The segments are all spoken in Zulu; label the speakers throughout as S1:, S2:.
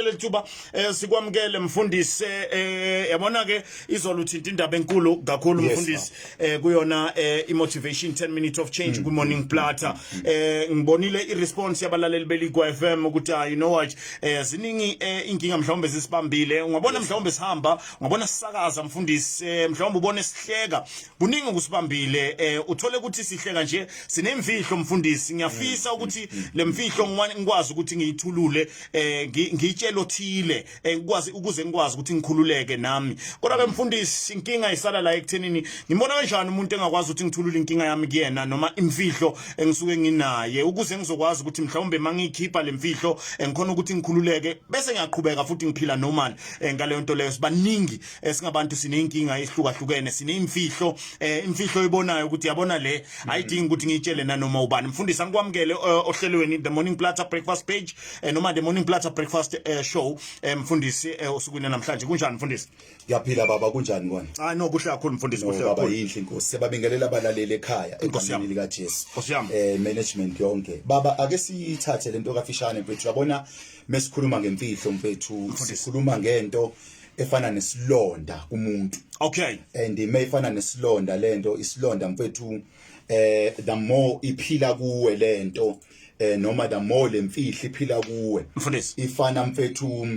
S1: lethuba eh sikwamukele mfundisi eh yabona ke izolo uthinta indaba enkulu kakhulu mfundisi eh kuyona eh imotivation 10 minutes of change mm, ku morning mm, platter mm, eh ngibonile i response yabalaleli beligwa FM ukuthi ah, you know what eh ziningi eh, inkinga mhlawumbe zisibambile ungabona mhlawumbe sihamba ungabona sisakaza mfundisi eh, mhlawumbe ubone sihleka kuningi kusibambile eh uthole ukuthi sihleka nje sinemfihlo mfundisi ngiyafisa ukuthi lemfihlo ngikwazi ukuthi ngiyithulule eh ngitshela othile eh, ngikwazi ukuze ngikwazi ukuthi ngikhululeke nami kodwa ke mfundisi inkinga isala la ekuthenini ngibona kanjani umuntu engakwazi ukuthi ngithulule inkinga yami kuyena noma imfihlo engisuke nginaye ukuze ngizokwazi ukuthi mhlawumbe mangiyikhipha lemfihlo engikhona ukuthi ngikhululeke bese ngiyaqhubeka futhi ngiphila normal eh, ngaleyo nto leyo sibaningi eh, singabantu sineyinkinga ehlukahlukene sineimfihlo eh, imfihlo oyibonayo ukuthi yabona le ayidingi ukuthi ngiyitshele nanoma ubani mfundisi angikwamukele eh, ohlelweni the morning platter breakfast page eh, noma the morning platter breakfast eh, show eh, mfundisi eh, osukwini namhlanje kunjani mfundisi ngiyaphila baba
S2: kunjani kona ah no kuhle kakhulu mfundisi
S1: kuhle baba kakhulu yinhle inkosi
S2: siyababingelela abalaleli ekhaya Nkosi yami. egameni likajesu Nkosi yami. eh management yonke baba ake siyithathe lento kafishane mfethu yabona mesikhuluma ngemfihlo mfethu sikhuluma ngento efana nesilonda kumuntu okay and
S1: mayifana
S2: nesilonda lento isilonda mfethu eh the more iphila kuwe lento eh noma the more lemfihli iphila kuwe mfundisi ifana
S1: mfethu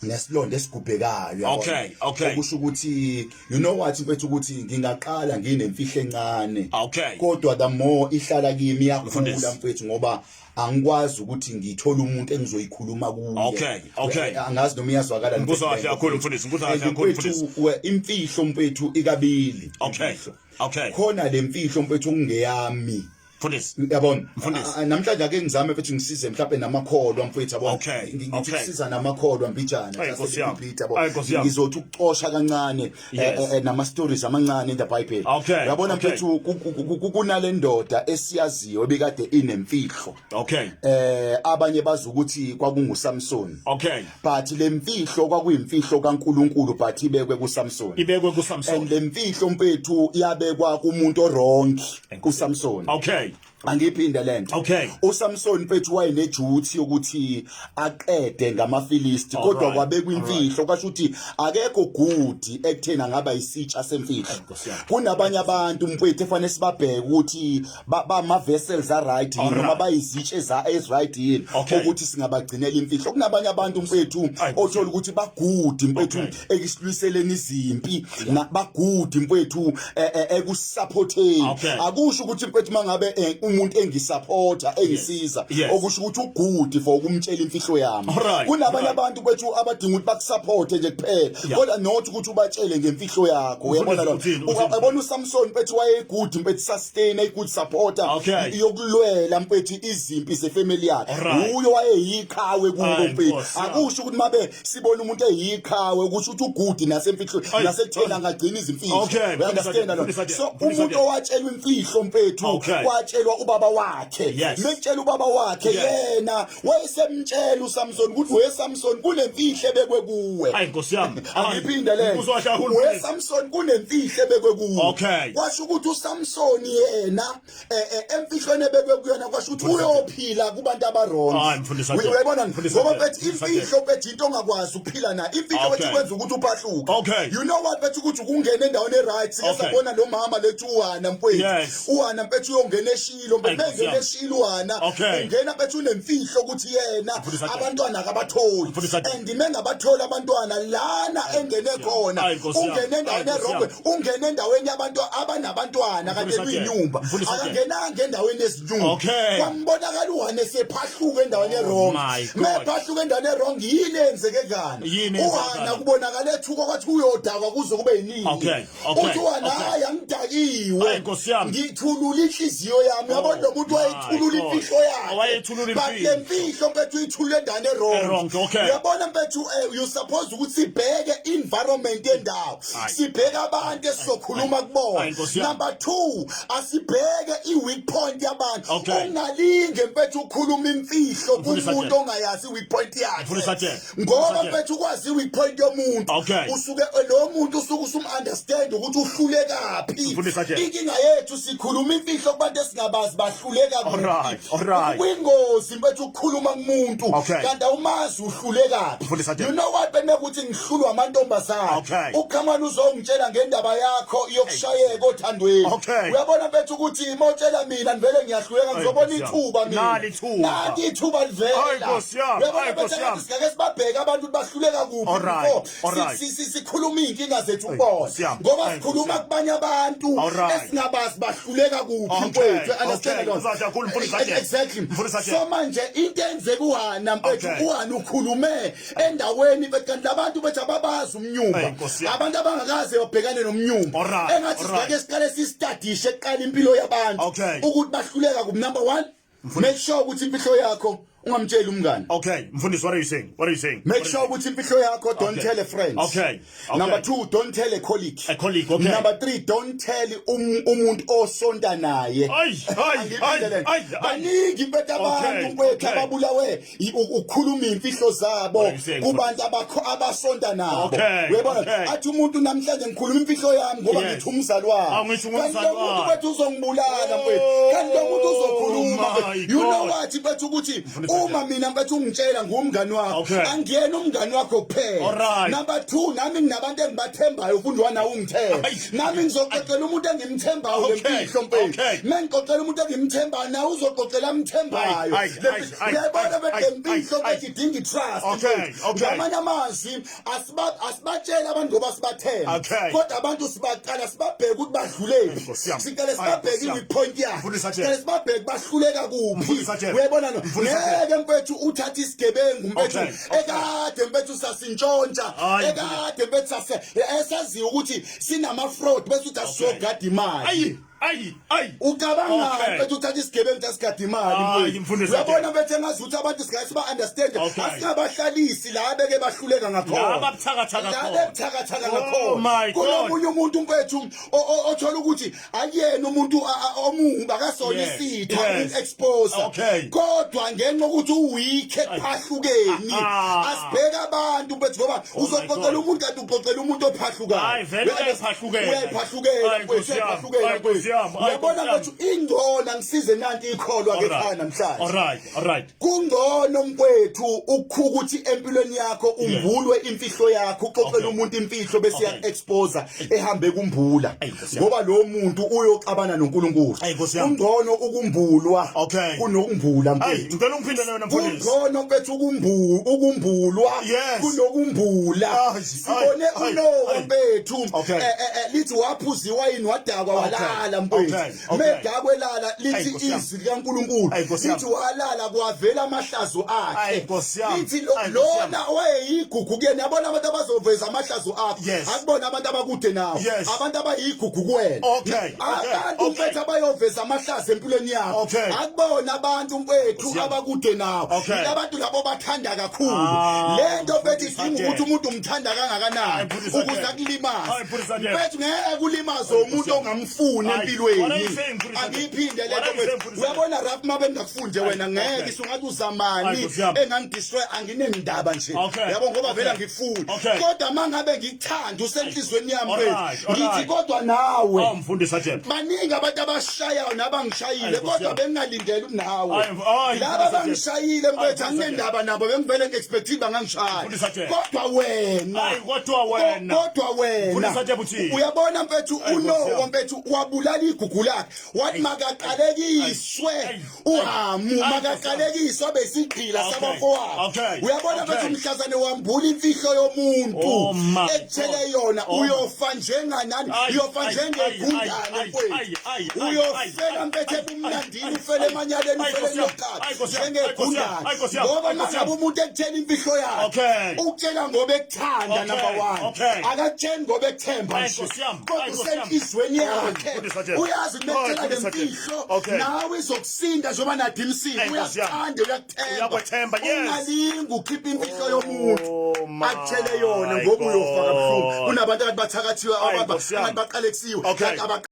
S2: nesilonda esigubhekayo okay okay
S1: okusho ukuthi
S2: you know what mfethu ukuthi ngingaqala nginemfihlo encane okay kodwa the
S1: more
S2: ihlala kimi yakhula mfethu ngoba angikwazi ukuthi ngithole umuntu engizoyikhuluma kuye okay okay eh, angazi
S1: noma iyazwakala
S2: ngikuzwa kahle kakhulu mfundisi
S1: ngikuzwa kahle kakhulu mfundisi imfihlo mfethu
S2: ikabili okay okay
S1: khona le mfihlo
S2: mfethu okungeyami mfundisi
S1: yabona mfundisi
S2: namhlanje ake ngizame mfethu ngisize mhlawumbe namakholwa mfethu yabona okay ngikusiza namakholwa mbijana sase ngipita yabo ngizothi ukucosha kancane eh, yes. eh, eh, nama stories amancane in the bible okay. yabona okay. mfethu kunale ndoda esiyaziyo ebikade inemfihlo okay eh abanye bazi ukuthi kwakungu Samson okay but lemfihlo kwakuyimfihlo kaNkuluNkulu but ibekwe ku Samson ibekwe ku Samson and lemfihlo mfethu yabekwa kumuntu orongi ku Samson okay angiphinde lento okay uSamson mfethu wayene duty yokuthi aqede ngamafilisti kodwa kwabekwa imfihlo kwasho ukuthi akekho good ekuthena ngaba isitsha semfihlo kunabanye abantu mfethu efanele sibabheke ukuthi bama vessels are right yini noma bayizitshe za is right yini ukuthi singabagcinela imfihlo kunabanye abantu mfethu othola ukuthi ba good mfethu ekusilwiseleni izimpi nabagudi mfethu eh, eh, ekusupporteni okay. akusho ukuthi mfethu mangabe eh, umuntu engisupporta engisiza yes. yes. okusho ukuthi ugudi for ukumtshela imfihlo yami right. kunabanye right. abantu kwethu abadinga ukuthi bakusupporte nje kuphela yeah. kodwa not ukuthi ubatshele ngemfihlo yakho uyabona lo uyabona uSamson mfethu wayegudi mfethu sustain a good supporter okay. yokulwela mfethu izimpi zefamily yakhe right. uyo wayeyiqhawe kubo mfethu akusho ukuthi mabe sibona umuntu eyiqhawe ukuthi uthi ugudi nasemfihlo nasekutheni angagcina izimfihlo understand lo so umuntu owatshelwa imfihlo mfethu watshelwa ubaba wakhe mekutshela ubaba wakhe yena wayesemtshela uSamson ukuthi we Samson kunemfihle bekwe kuwe hayi nkosi yami
S1: angiphinde le
S2: we Samson kunemfihle bekwe kuwe kwasho ukuthi uSamson yena eh, eh, emfihlweni ebekwe kuyona kwasho ukuthi uyophila kubantu abarongoyibona ngoba bethi imfihlo bethi into ongakwazi ukuphila nayo imfihlo bethi kwenza ukuthi uphahluke you know what bethi ukuthi ukungena endaweni e-right sike sabona lo mama lethi uhana mfwethu uhana mfethu uyongena eshilo mfethu eshilo uhana ungena bethi unemfihlo ukuthi yena abantwana akabatholi and mengabatholi abantwana lana engene khona ungene endaweni erongo ungena endaweni yabantu abanabantwana kanti eluyinyumba akangenanga endaweni yezinyumba kwambonakala uhane sephahluka endaweni oh erong mephahluka endaweni erong yini eyenzeke kani uhana kubonakala ethuka kwathi uyodakwa kuze kube yiningi uthi uhana hayi angidakiwe ngithulula inhliziyo yami yabo oh lo muntu wayethulula imfihlo yakhe but le mfihlo mpethu uyithulula endaweni erong uyabona mpethu eh, you suppose ukuthi sibheke environment yendawo sibheke abantu esizokhuluma kubona number 2 asibheke iweak point yabantu ungalinge mfethu ukhuluma imfihlo kumuntu ongayazi iweak point yakhe ngoba mfethu ukwazi iweak point yomuntu usuke lo muntu usuke usum understand ukuthi uhlulekaphi inkinga yethu sikhuluma imfihlo kubantu esingabazi bahluleka
S1: kwingozi bethi
S2: ukhuluma kumuntu Okay. kanti awumazi uhlulekaphi Mfundisi Adele. you know what benekuthi ngihlulwa amantombazana Okay. ukhamani uzongitshela ngendaba yakho yokushayeka othandweni Okay. uyabona bethi ukuthi uma utshela mina ngivele ngiyahluleka ngizobona Nkosi yami. ithuba mina Nali ithuba. Nali ithuba Ay, livela Nkosi yami. uyabona Ay, Nkosi bethi yami. ngathi singeke sibabheke abantu ukuthi bahluleka kuphi Alright. before Alright. Si- si- si- sikhuluma iy'nkinga zethu Ayi, kubona Nkosi yami. ngoba Ayi, sikhuluma Nkosi yami. kubanye abantu Alright. esingabazi bahluleka kuphi Okay, mfowethu You understand okay. that? Mfundisi Ajakhulu, Mfundisi Ajakhulu. exactly Mfundisi Ajakhulu. so manje into enzeka uhana mfethu Okay. uhana ukhulume endaweni bethi kanti labantu bethi ababazi Ayi, umnyumba Nkosi yami. abantu abangakaze babhekane nomnyumba Alright, engathi alright. sibake siqale sistadishe kuqala impilo yabantu Okay. ukuthi bahluleka kuphi number one Make sure ukuthi impihlo yakho ungamtsheli umngane. Okay, mfundisi what are you saying?
S1: What are you saying? Make sure ukuthi impihlo
S2: yakho don't tell a friend. Okay. okay. Number 2 don't tell a colleague. A colleague, okay. Number 3 don't tell um, umuntu osonta naye. Ay, ay, ay, ay. Baningi bethu abantu kwethu ababulawe ukukhuluma imfihlo zabo kubantu abakho abasonta nabo uyabona athi umuntu namhlanje ngikhuluma imfihlo yami ngoba ngithi umzali wami kanti lo muntu bethu uzongibulala mfethu oh kanti lo muntu uzokhuluma you know what bethu ukuthi uma mina bethu ungitshela ngumngani wakho angiyena umngani wakho kuphela number 2 nami nginabantu engibathembayo ufundwa na ungithemba nami ngizoxoxela umuntu engimthembayo lempihlo mfethu mengixoxela umuntu engimthembayo na uzoxoxela amthembayo uyayibona bedembihlo bethi idinga itrust ngamanye amazwi asibatsheli abantu ngoba sibathemba kodwa abantu sibaqala sibabheke ukuthi badluleli siqale sibabheke i-point yakhe siqale sibabheke bahluleka kuphi uyayibona no ngeke mfethu uthathe isigebengu mfethu ekade mfethu sasintshontsha ekade mfethu sase esaziyo ukuthi sinama-fraud bese uthi asizogada imali ayi ayi ucabanga okay. bethi uthatha isigebengu sasikhathi imali mfundisi uyabona bethe ngazi ukuthi abantu singase siba understand okay. asingabahlalisi la beke bahluleka ngakhona la babuthakathaka la bebuthakathaka oh ngakhona kunomunye umuntu mfethu othola ukuthi akuyena umuntu omumbi akasona yes. isitha yes. expose okay. kodwa ngenxa ukuthi uweak ekhahlukeni asibheka abantu mfethu ngoba oh uzoqoqela umuntu uxoxela umuntu ophahlukayo uyayibona ngathi ingcono angisize nanti ikholwa ke khaya namhlanje
S1: kungcono
S2: mkwethu ukukhuka ukuthi empilweni yakho umbulwe imfihlo yakho uxoxela umuntu imfihlo bese ya-exposa ehambe kumbula ngoba lo muntu uyoxabana noNkulunkulu ungcono ukumbulwa kunokumbula mfethu ngicela ungiphinde lona mfundisi
S1: ungcono bethu ukumbu
S2: ukumbulwa kunokumbula ah, sibone uNowa bethu eh, eh, eh, lithi waphuziwa yini wadakwa walala mfethu medakwe lala lithi likaNkulunkulu Ayi, Nkosi yami. ithi walala kwavela amahlazo akhe Ayi, Nkosi yami. ithi lo- Ayi, Nkosi yami. lona owayeyigugu kuyena yabona abantu abazoveza amahlazo akho Yes. akubona abantu abakude nawe Yes. abantu abayigugu kuwena Okay, okay, abantu okay. mfethu abayoveza amahlazo empilweni yakho Okay. akubona abantu mfethu Nkosi yami. abakude nawe Okay. Yila abantu labo bathanda kakhulu Ah, le nto mfethu idinga mfundisi ukuthi umuntu umthanda kangakanani Ayi, mfundisi ukuze Adele. akulimaze Ayi, mfundisi Adele. mfethu ngeke kulimaze umuntu ongamfuni funi empilweni angiyiphinde lento mfethu uyabona rap mabe ngakufunde wena ngeke sungathi uzamani engangidestroy anginendaba nje yabo ngoba vele ngifuni kodwa mangabe ngikuthanda usenhlizweni yami mfethu ngithi kodwa nawe oh, mfundisa jena
S1: baningi abantu
S2: abashayayo nabangishayile kodwa bengingalindele unawe laba bangishayile mfethu anginendaba nabo bengivele ngi-expective bangangishaya kodwa wena kodwa wena kodwa wena uyabona mfethu unowo mfethu wabulala igugu lakhe wathi makaqalekiswe uhamu makaqalekiswe abesigqila sabafowabo uyabona mfethu umhlazane wambula imfihlo yomuntu oh, ekuthele yona oh. uyofa njenganani uyofa njengegundane mfethu uyofela mfethu ebumnandi dini ufele emanyaleni ufele ngeqatha njengegundane ngoba uma ngabe umuntu ekutshela imfihlo yakhe ukutshela ngoba ekuthanda number one akakutsheli ngoba ekuthemba nje kodwa usenhliziyweni yakhe uyazi kumekutshela le mfihlo nawe izokusinda njengoba nathi imsile uyakuthanda uyakuthemba ungalingi ukhipha imfihlo yomuntu oh, akutshele yona ngoba uyofa kabuhlungu kunabantu akanti bathakathiwe abantu baqalekisiwe